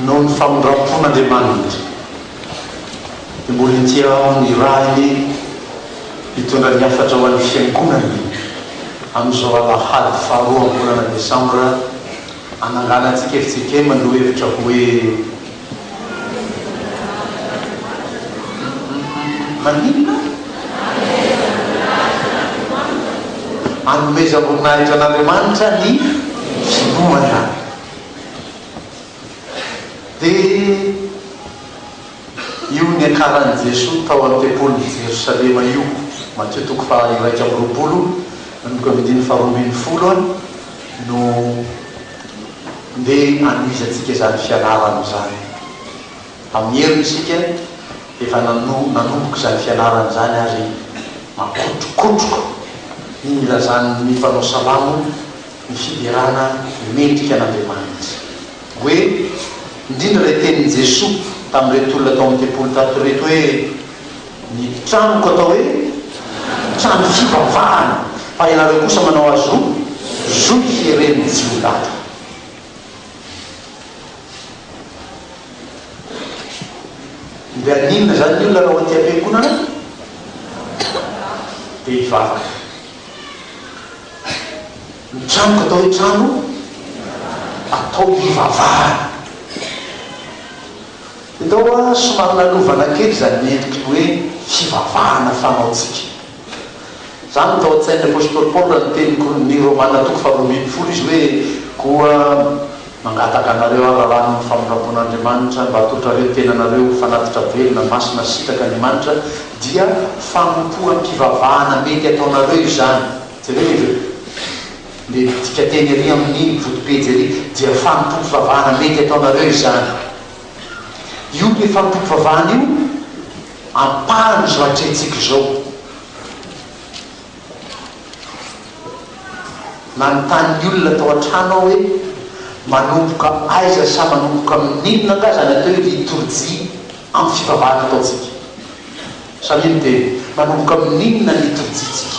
noho ny famindram-pon'Andriamanitra, dia mbola ety amin'ny rahiny hitondra ny hafatra ho an'ny Fiangonany amin'izao alahady faharoa am-bolana desambra hananganantsika fitsekema ny lohahevitra hoe, Maninona? Anomezam-boninahitra an'Andriamanitra ny finoana. Dia io niakaran'i Jesoa tao amin'ny tempolin'i Jerosalema io, Matio toko faha iraika amby roapolo, andininy faharoa ambin'ny folo. no ndeha hanohizantsika izany fianarana izany. Amin'ny heriny isika dia efa nanomboka izany fianarana izany ary makotrokotroka ny nilazan'ny mpanao salamo ny fiderana mendrika an'Andriamanitra. Hoe, indrindra ilay tenin'i Jesoa tamin'ireto olona tao amin'ny tempoly tato ireto hoe. Ny tranoko atao hoe trano fivavahana fa ianareo kosa manao azy ho zohy heren'ny jiolahy. Mbe haninona izany ny olona raha ao aty am-piangonana dia hivavaka? Ny tranoko atao hoe trano atao hivavahana. Ndao a, somary nanovana kely izany ny endriky ny hoe fivavahana fanaontsika. Izany no tao an-tsain'ny apostoly Paoly raha niteny kolon'ny Romana toko faharoa ambin'ny folo izy hoe, Koa mangataka anareo aho raha lany amin'ny famindram-pon'Andriamanitra mba hatondrareo ny tenanareo ho fanatitra velona, masina sy sitraky Andriamanitra, dia fanompoam-pivavahana mety ataonareo izany. Jerevo e! Mety midika teny ery amin'ny foto-pejy ery dia fanompoam-pivavahana mety ataonareo izany. Io ilay fanompoam-pivavahana io ampahan'izao atrehintsika izao. Nanontany ny olona tao an-trano aho hoe, Manomboka aiza sa manomboka amin'inona angaha izany atao hoe litorjia amin'ny fivavahana ataontsika? Samia miteny, Manomboka amin'inona ny litorjiantsika?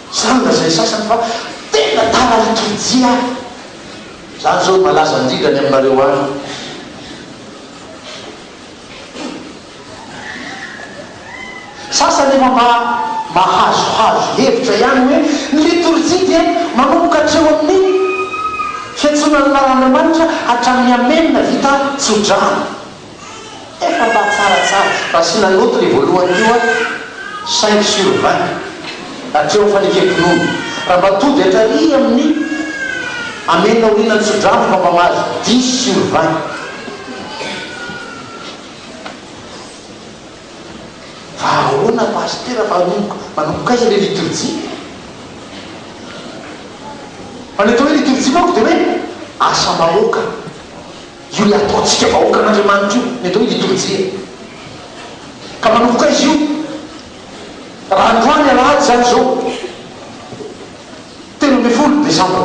Zany lazain'ny sasany fa tena tara liturjia aho. Zany zao no malaza indrindra any aminareo any. Sasany efa mba mahazohazo hevitra ihany hoe ny liturjia dia manomboka hatreo amin'ny fiantsoana ny anaran'Andriamanitra hatramin'ny Amen vita tso-drano. Tena mba tsara tsara. Asiana note le voalohany teo an, cinq sur vingt hatreo fanekem-pinoana. Raha mba tody hatrary amin'ny Amen aoriana ny tso-drano fa mba mahazo dix sur vingt. Fa ahoana Pasitera fa anomboka manomboka aiza le liturjia? Fa ny atao hoe liturjia manko de hoe asa-bahoaka. Io ilay ataontsika vahoakan'Andriamanitra io, ny atao hoe litorjia. Ka manomboka izy io, raha androany alahady izany izao, telo ambin'ny folo desambra.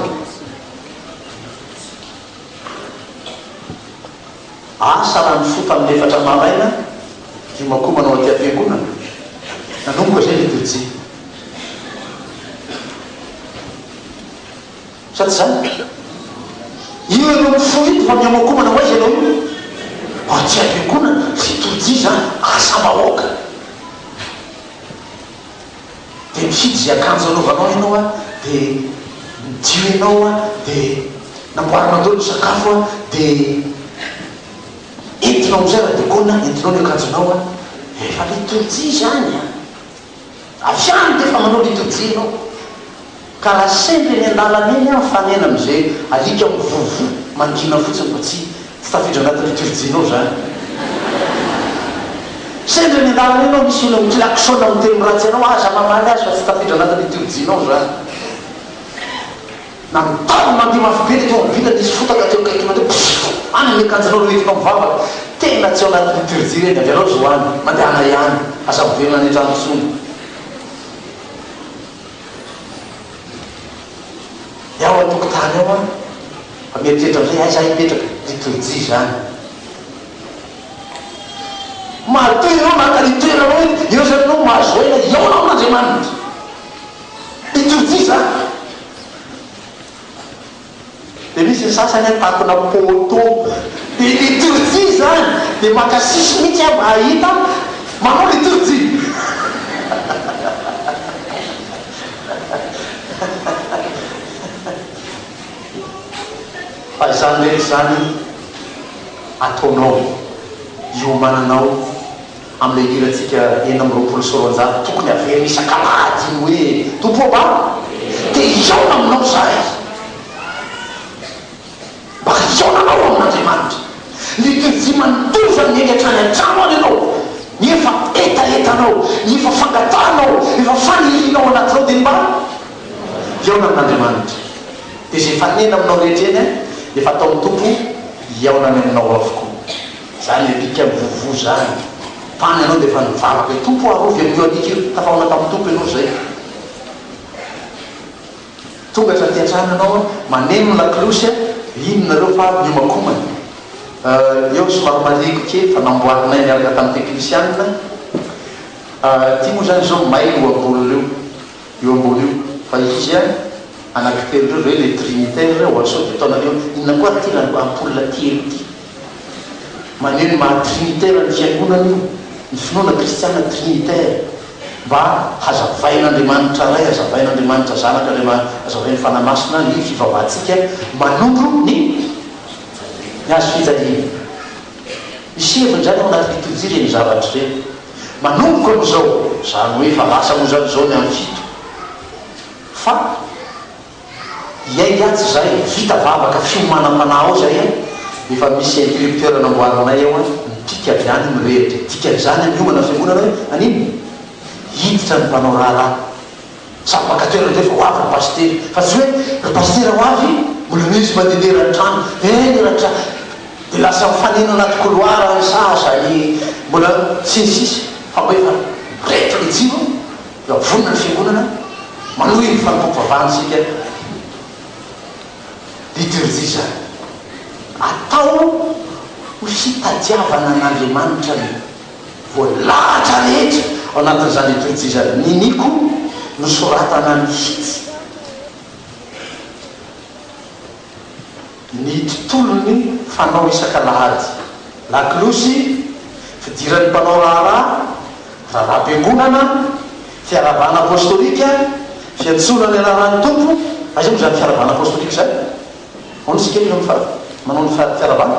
Asa raha nifoka amin'ny efatra maraina, hiomankomana ao aty am-piangonana. Nanomboka izay litorjia. Sa tsy izany? Io ianao mifoha eto fa mihomakomana ho aiza ianao io? Mbola tsy azo iangonana? Izay tolotr'ia izany? Asam-bahoaka! Dia mifidy izay akanjo hanaovanao ianao an, dia midio ianao an, dia namboarinao daholo ny sakafo an, dia entinao amin'izay ra-dogona, entinao ny akanjonao an, efa ilay tolotr'ia izany an! Avy any dia efa manao litorjia ianao. Ka raha sendra eny an-dalana eny aho mifanena amin'izay alika mivovo mangina fotsiny fa tsy tsy tafiditra anaty litorjianao izany. Sendra eny an-dalana eny aho misy olona miklaxona miteny ratsy anao, aza mamaly azy fa tsy tafiditra anaty litorjianao izany. Nanontany ny mandeha mafy be teto amin'ny vilany izy fotaka teo akaiky mandeha Pfff! Any ny akanjonao no entinao mivavaka! Tena tsy ao anaty liturgie ireny, avy anao zo any, mandehana ihany, aza miverina any an-trano intsony. Ny ao an-tokotany ao an! Fa mieritreritra amin'izay aiza aho hipetraka? Liturgie izany. Matoa ianao naka ny toeranao eto, eo izany ianao mahazo aina, hihaona ho an'Andriamanitra. Liturgie izany. Dia misy ny sasany hoe takona poteau. Dia liturgie izany. Dia maka sisy mihitsy aho mba hahita manao liturgie. Fa izany rehetra izany ataonao hiomananao. Amin'ilay hirantsika enina amby roapolo sy roanjato tokony haverina isak'alahady iny hoe, Tompo ô, mba te hihaona aminao izahay. Mba hihaona anao ho amin'Andriamanitra. Ny pejy manondozany miainga hatrany an-trano any ianao, ny efa hetahetanao, ny efa fangatahanao, efa fanirianao ao anatinao dia ny mba hihaona amin'Andriamanitra. Dia izay faniriana aminao rehetra eny dia efa ataon'ny Tompo hihaona any aminao avokoa. Zany le pika mivovo zany. Tany anao defa nivavaka e Tompo a arovy an'io alika io tafahoana tamin'ny Tompo ianao zay Tonga hatraty antrano ianao a maneno ny laklosy a iny nareo fa avy niomakomana euh eo somary marihiko kely fa namboarinay niaraka tamin'ny teknisianina euh ty moa zany zao may io ambonin'io io io ambony io fa izy a anaky telo reo ve le trinitaire oa sao de ataonareo inona koa ary ty raha ampoule telo ty. Maneho ny maha trinitera ny fiangonana io, ny finoana kristiana trinitera, mba hazavain'Andriamanitra Ray, hazavain'Andriamanitra Zanaka, hazavain'ny Fanahy Masina ny fivavahantsika manondro ny ny Hazo fijaliana. Misy heviny izany ao anaty litorjia ireny zavatra ireny. Manomboka amin'izao, izany hoe efa lasa moa izany izao ny an'ny fito, fa. Hiaiky atsy zay, vita vavaka fiomanam-panahy ao zay an! Efa misy encrypteur namboarinay ao an! Mipika avy any mirehitra e! Dikan'izany an, miomana ny fiangonana hoe an'inona? Hiditra ny mpanao raharaha! Tsapaka teo nareo fa ho avy ry pasitera! Fa tsy hoe ry pasitera ho avy? Mbola misy mandedera ny trano! Eny ry tra! Dia lasa mifanena anaty couloir any sahaza any mbola sy ny sisa! Fa mba efa reto le jiro! Raha vonona ny Fiangonana manohy ny fanompoam-pivavahana isika, liturgie izany, atao ho fitadiavana an'Andriamanitra ny voalahatra rehetra ao anatin'izany liturgie izany. Niniako nosoratana mihitsy. ny tontolon'ny fanao isak'alahady, lakolosy, fidiran'ny mpanao raharaha, raharaham-piangonana, fiarahabana apostolika, fiantsoana ny anaran'ny Tompo, aiza moa izany fiarahabana apostolika izany? Ahoana isika rehefa mifa manao ny fiarahabana?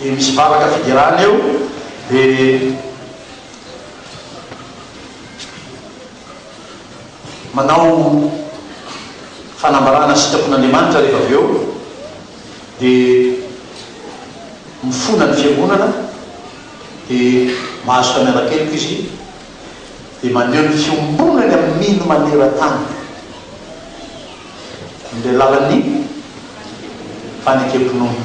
dia misy vavaka fiderana eo dia manao fanambarana sitrapon'Andriamanitra rehefa avy eo dia mifona ny fiangonana dia mahazo tamin'Anakeliko izy dia maneho ny fiombonany amin'ny mino maneran-tany amin'ilay lalan'ny fanekem-pinoana.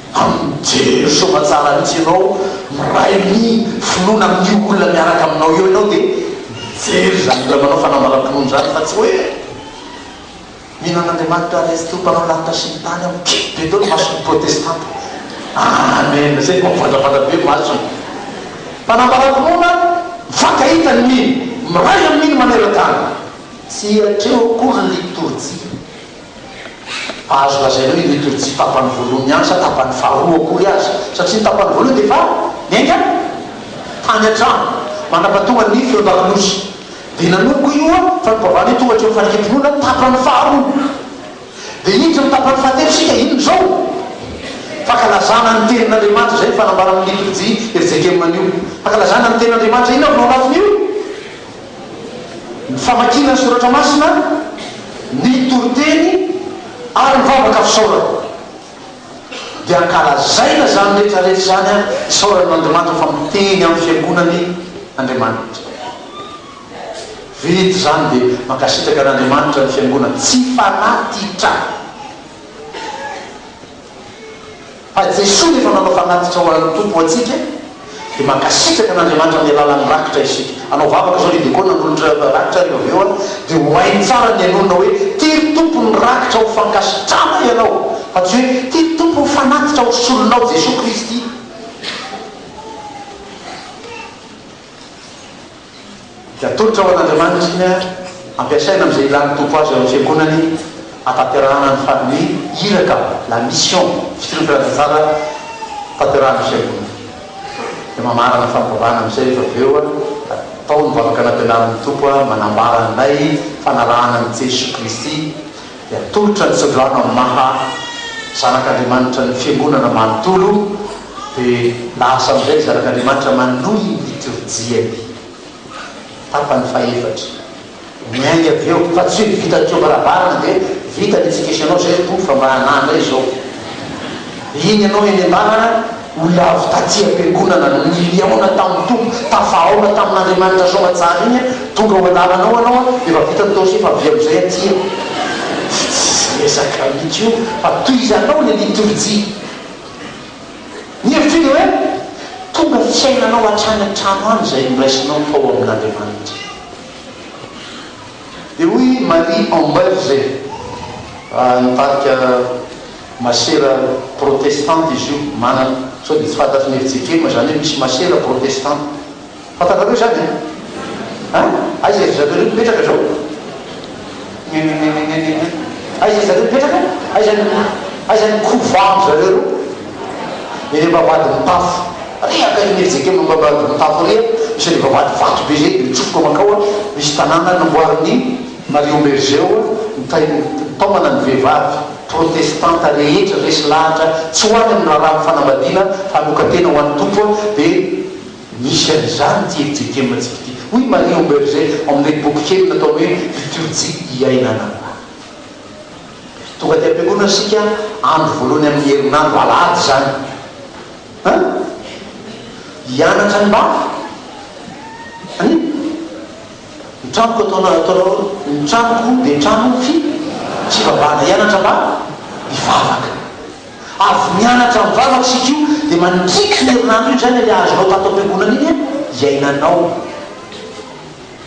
Mijery soamantsara mihitsy ianao, miray ny finoana amin'io olona miaraka aminao eo ianao dia mijery izany olona manao fanambaram-pinoana izany fa tsy hoe mino an'Andriamanitra Ray sy Tompo mpanao lanitra sy ny tany aho. Kely be tao ny mason'ny protestanta. Amen! Izay vao mivandravandra be masony. Fanambaram-pinoana mifankahita ny mino, miray amin'ny mino maneran-tany. Tsy hatreo akory ny litorjia. Azo lazaina hoe ireto ry tsy tapany voalohany ihany sa tapany faharoa akory aza satria ny tapany voalohany dia efa niainga tany an-trano manapatonga ny feon-dakolosy dia nanomboka io fanokafana io tonga hatreo amin'ny fanekempinoana tapany faharoa dia hiditra amin'ny tapany fahatelo isika inona izao fankalazana ny tenin'Andriamanitra izay ny fanambarana amin'ny litorjia RJKM anio fankalazana ny tenin'Andriamanitra inona no ao anatin'io ny famakiana ny soratra masina, ny toriteny ary ny vavaka fisaorana. Dia ankalazaina izany rehetra rehetra izany ary isaorana an'Andriamanitra fa miteny amin'ny fiangonany Andriamanitra. Vita izany dia mankasitraka an'Andriamanitra ny fiangonana tsy fanatitra. Fa Jesoa no efa nanao fanatitra ho an'ny Tompo ho antsika dia mankasitraka an'Andriamanitra amin'ny alalan'ny rakitra isika. Hanao vavaka izao ny diakona hanolotra rakitra ary avy eo an dia ho hainy tsara ny hanonona hoe tia ry Tompo ny rakitra ho fankasitrana ianao fa tsy hoe tia ry Tompo ny fanatitra ho solonao Jesoa Kristy. dia atolotra ho an'Andriamanitra iny ary ampiasaina amin'izay ilàn'ny Tompo azy ao amin'ny Fiangonany hahatanterahana ny farin'ny iraka, la mission, fitondran-tantara tanterahan'ny Fiangonana. Dia mamarana fampivavahana amin'izay rehefa avy eo, atao ny vavaka nampianarin'ny Tompo manambara anay fanarahana an'i Jesoa Kristy, dia atolotra ny tsodrano amin'ny maha zanak'Andriamanitra ny fiangonana manontolo, dia lasa amin'izay ny zanak'Andriamanitra manohy ny litorjiany. Tapany fahefatra. Miainga avy eo, fa tsy hoe vita ny teo am-baravarana dia vita ny etsik'esenao izay, Tompo fa mba anà indray izao. Iny ianao eny am-bavana. Olona avy taty am-piangonana no niliaona tamin'ny Tompo, tafahaona tamin'Andriamanitra soa aman-tsara iny an, tonga ao an-dalanao ianao an, efa vita ny taosy efa avia amin'izay aty an. Fa tsy izay resaka mihitsy io fa toy izany anao ilay litorjia. Ny hevitro dia hoe tonga fiainanao hatrany an-trano any izay noraisinao tao amin'Andriamanitra. Dia hoy i Marie Amberger, nitarika. Masera protestanta izy io, manana, sao dia tsy fantatry ny FJKM izany hoe misy masera protestanta. Fantanareo izany an? An? Aiza ry zareo ireo mipetraka izao? Ngengengengengeng. Aiza ry zareo mipetraka? Aiza ny, aiza ny couvent-dry zareo ireo? Eny am-bavahadin'ny tafo. Ary akaikin'ny FJKM eo am-bavahadin'ny tafo ery an, misy an'ilay vavahady vato be izay dia mitsofoka mankao an, misy tanàna namboarin'ny. Marion Bergeu, Nitahy taomana ny vehivavy protestanta rehetra resy lahatra, tsy ho any amin'ny raharaha amin'ny fanambadiana fa hanokan-tena ho an'ny Tompo dia misy an'izany ity FJKM antsika ity. Hoy i Marion Bergeu ao amin'ilay boky kely nataony hoe Liturjia iainana ho ahy. Tonga aty am-piangonana isika andro voalohany amin'ny herinandro, alahady izany, an! hianatra ny mafy. An! Ny tranoko atao na atao ahoana. Ny tranoko dia trano fi fivavahana. Hianatra mba hivavaka. Avy nianatra mivavaka isika io dia mandriky iny herinandro iny, izay ilay le azonao tato am-piangonana iny an, iainanao.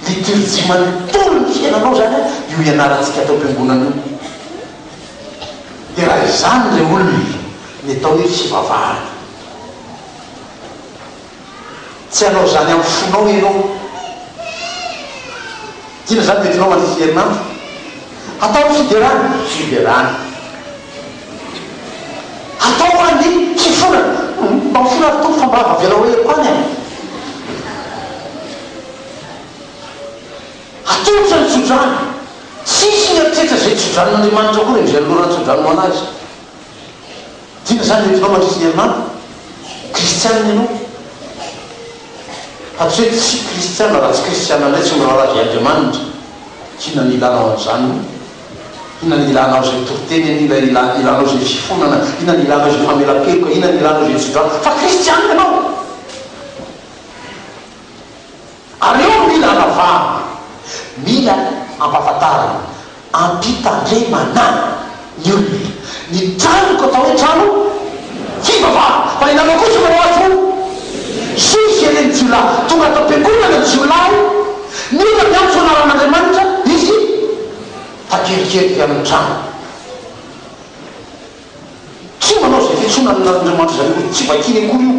Liturgie manontolo ny fiainanao izany an, io ianarantsika ato am-piangonana io. Dia raha izany ilay olona, ny atao hoe fivavahana. Tsy hanao izany amin'ny fonao ianao. Inona izany no entinao mandritra ny herinandro? Hatao ny fiderana. Fiderana. Hatao koa ny fifonana. Humm, mba mifona ry Tompo fa mba avelao aheriko any e. Atolotra ny tsodrano. Tsisy mieritreritra izay tsodranon'Andriamanitra akory, mijery loran-tsodrano ho an'Azy. Tena izany ny hevinao mandritra ny herinandro? Kristiana ianao? Fa tsy hoe tsy kristiana, raha tsy kristiana indray tsy miraharaha azy Andriamanitra. Inona no ilanao an'izany moa? Inona no ilanao izay toriteny anie? Inona no ilanao izay fifonana? Inona no ilanao izay famelan-keloka? Inona no ilanao izay tso-drano? Fa kristiana ianao? Ary eo no mila anavahana, mila ampahafantarina, ampitandremana ny olona. Ny tranoko atao hoe trano fivavahana, fa ianareo kosa manao azy ho Soa jereny jiolahy tonga ato am-piangonana ny jiolahy mila miantso anaran'Andriamanitra izy takelikeloky amin'ny trano tsy manao izay fiantsoana an'Andriamanitra izay io tsy vakiany akory io.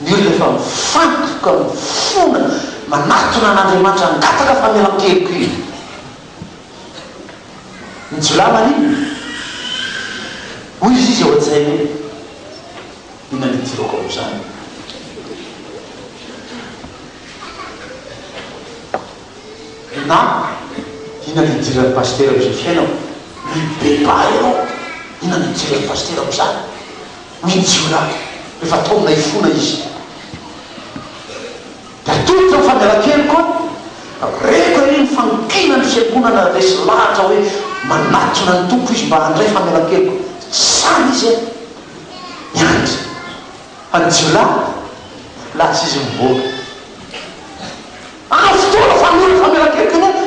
Ny olona efa mifantoka, mifona, manatona an'Andriamanitra, hangataka famelan-keloka Izy. Ny jiolahy maninona? Hoy izy izy ao an-tsainy hoe, Inona no idirako amin'izany? Na, Inona no idiran'ny pasitera amin'izao fiainako? Mibebaha ianao, Inona no idiran'ny pasitera amin'izany? Ny jiolahy, efa taomina hifona izy. Dia atolotro ny famelakeliko an! Reko ery ny fanonkinan'ny fiangonana resy lahatra hoe manatona ny Tompo izy mba handray famelakeliko. Tsy izany izy an! Miandry fa ny jiolahy, lasa izy mivoaka. Ampy fotoana fa mila famelan-keloka ny ady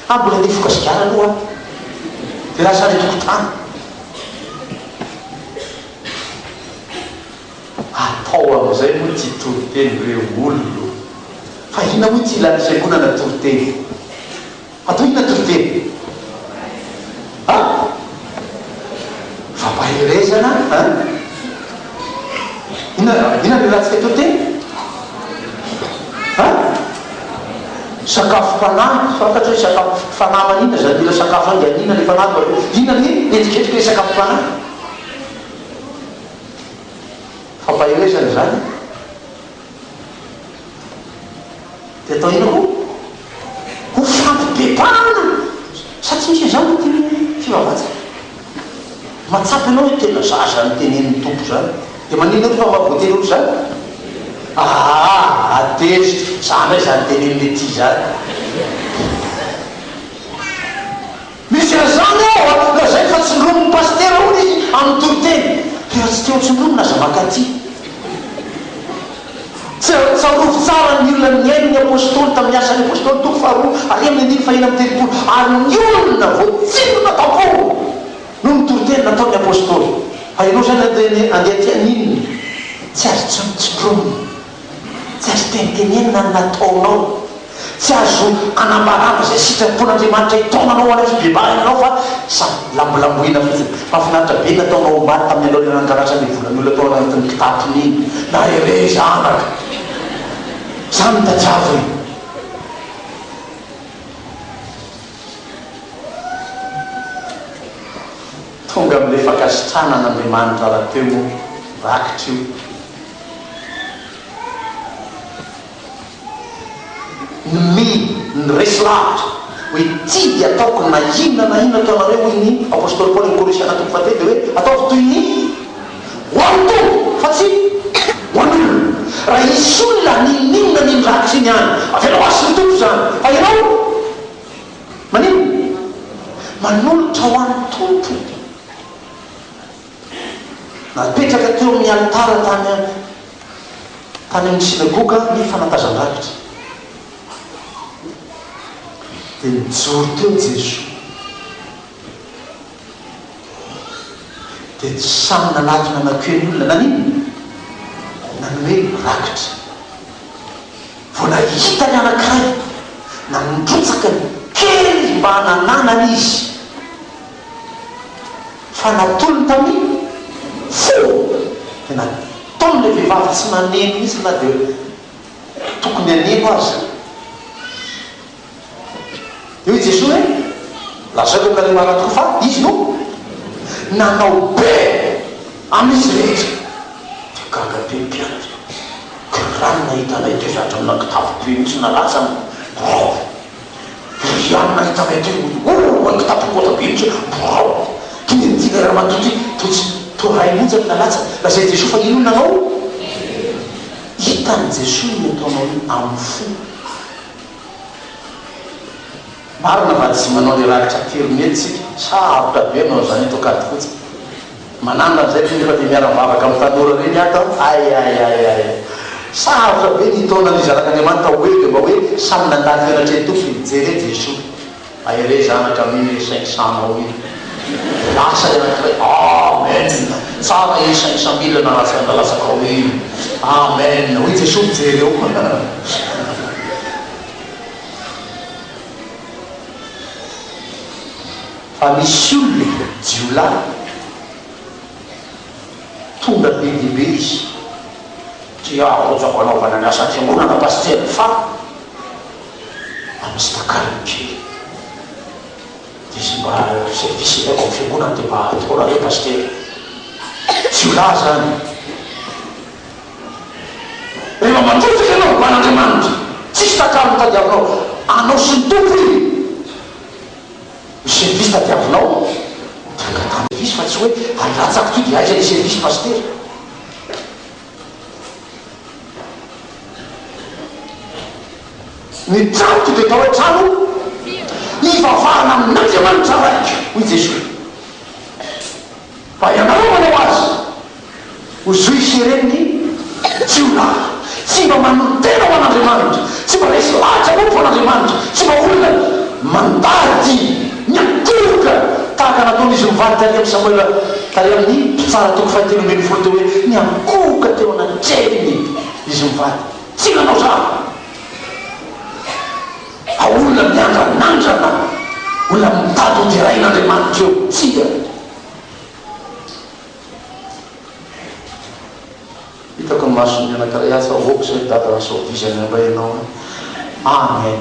fa mbola nifoka sigara aloha aho dia lasa any an-tokotany. Atao amin'izay moa ity toriteny ireo olona fa inona moa ity lany fiangonana toriteny. Hatao inona toriteny? A? Fampaherezana an? Inona raha inona no ilatsika toriteny? A? Sakafo fanahy, fantatra hoe sakafo fanahy manina zany mila sakafo zany dia anina le fanahy de aveo inona ny endrikendriky le sakafo fanahy? Fampaherezana zany? Dia atao inona koa? Ho fampibebahana satria misy izany ny dimy fivavahantsika. Mahatsapa ianao hoe tena za izany tenenin'ny Tompo izany. Dia maninona koa fa mba voatery ho ohatr'izany? Aa! Adeziko, za indray izany tenenin'ity izany. Misy an'izany ao a! Lazainy fa tsindromin'ny pasitera hono izy amin'ny toriteny. Dia raha tsy te ho tsindromina aza maka aty. Tsarovy tsara ny olona nihaino ny Apôstôly tamin'ny Asan'ny Apôstôly, toko faharoa ary amin'ny andininy fahena amby telopolo, ary ny olona voatsindrona tam-pony noho ny toriteny nataon'ny Apôstôly. Fa ianao izany andeha aty haninona? Tsy azo tsindromina. Tsy azo tenitenenina ny nataonao. Tsy azo anambarana izay sitrapon'Andriamanitra hitaonanao ho any amin'ny fibebahana ianao fa samy lambolamboina fotsiny. Mahafinaritra be ny nataonao omaly tamin'ny alohan'ny hananganan'izany volan'ny olona tao anatin'ny kitapony iny. Naherea zanaka. Izany no tadiavo e. Tonga amin'ilay fankasitrahana an'Andriamanitra rahateo moa rakitra io. Nmi, Niresy lavitra, hoe, Tsy dia ataoko na inona na inona ataonareo, hoy ny apostoly Paoly amin'ny Kôlôsiana toko fahatelo, dia hoe, Ataovy toy ny ho an'ny Tompo, fa tsy ho an'olona. Raha hisy olona ninoninona an'iny rakitra iny any, avelao hasy ny Tompo izany, fa ianao maninona? Manolotra ho an'ny Tompo. Napetraka teo amin'ny alitara tany tany amin'ny synagoga ny fanatazan-drakitra. Dia nijoro teo Jesoa. Dia samy nanatona nankeo ny olona. Nanino? Nanome rakitra. Vao nahita ny anankiray, nanrotsaka ny kery mba hanananany izy. Fa natolony tamin fo tena Tony le vehivavy tsy maneno mihitsy na dia tokony haneno aza Dia hoy Jesoa hoe Lazao eo aminareo marina tokoa fa Izy no nanao be amin izy rehetra Dia gaga be ny mpianatra Kiranin nahita anay toy izany hatramin'ny nankitaviko eo mihitsy nalatsa ny biraoko Iry ihany nahita anay teo hoe oh an kitapo kôta be mihitsy hoe borao ty ny andiana ramatoa ty to tsy to ray mihitsy aloha nalatsany lazain'i Jesoa fa inona nanao izy? Hitan'i Jesoa ny ataonao io amin'ny fo. Marina va tsy manao ny rakitra aterineto tsika sa avotra be anao izany eto Ankadifotsy? Manana an'izay ty nefa dia miara mivavaka amin'ny tanora ireny ato an! Aiaiaiai! Sarotra be ny taona nizanak'Andriamanitra oe dia mba hoe samy nandà tena hatreny Tompo dia mijery eo Jesoa Hay re zanaka amin le cinq cent nao iny dia lasa le anankiray Amen! Tsara iny cinq cent mille nalatsaka nilalatsakao iny Amen! Hoy Jesoa mijery eo Fa misy olona e, jiolahy, tonga be dia be izy, tsy aharotsako hanaovana ny asan-piangonana pasitera fa mba misy takalony kely, dia izay mba service ilaiko amin'ny fiangonana dia mba ataonareo pasitera, jiolahy izany e. Rehefa matoraka ianao ho an'Andriamanitra, tsisy takalony tadiavinao, anao sy ny Tompo iny. Ny service tadiavinao tranga tany service fa tsy hoe ary latsako ty dia aiza le service pasitera. Ny tranoko dia atao hoe trano hivavahana amin'Andriamanitra raiko hoy Jesoa fa ianareo manao azy. Ho juifs ireny ny jiolahy. Tsy mba manolo-tena ho an'Andriamanitra. Tsy mba resy lahatra akory ho an'Andriamanitra. Tsy mba olona mandady, miankohoka, tahaka nataon'izy mivady tary amin'i Samoela, tary amin'ny Mpitsara toko fahateloa ambin'ny folo teo hoe, Niankohoka teo anatrehiny izy mivady. Tsy nanao zava. A Olona miandranandrana, olona mitady hoderain'Andriamanitra eo. Tsia. Hitako masony anakiray atsy fa ok zay dada fa sao vizana indray ianao an! Amen.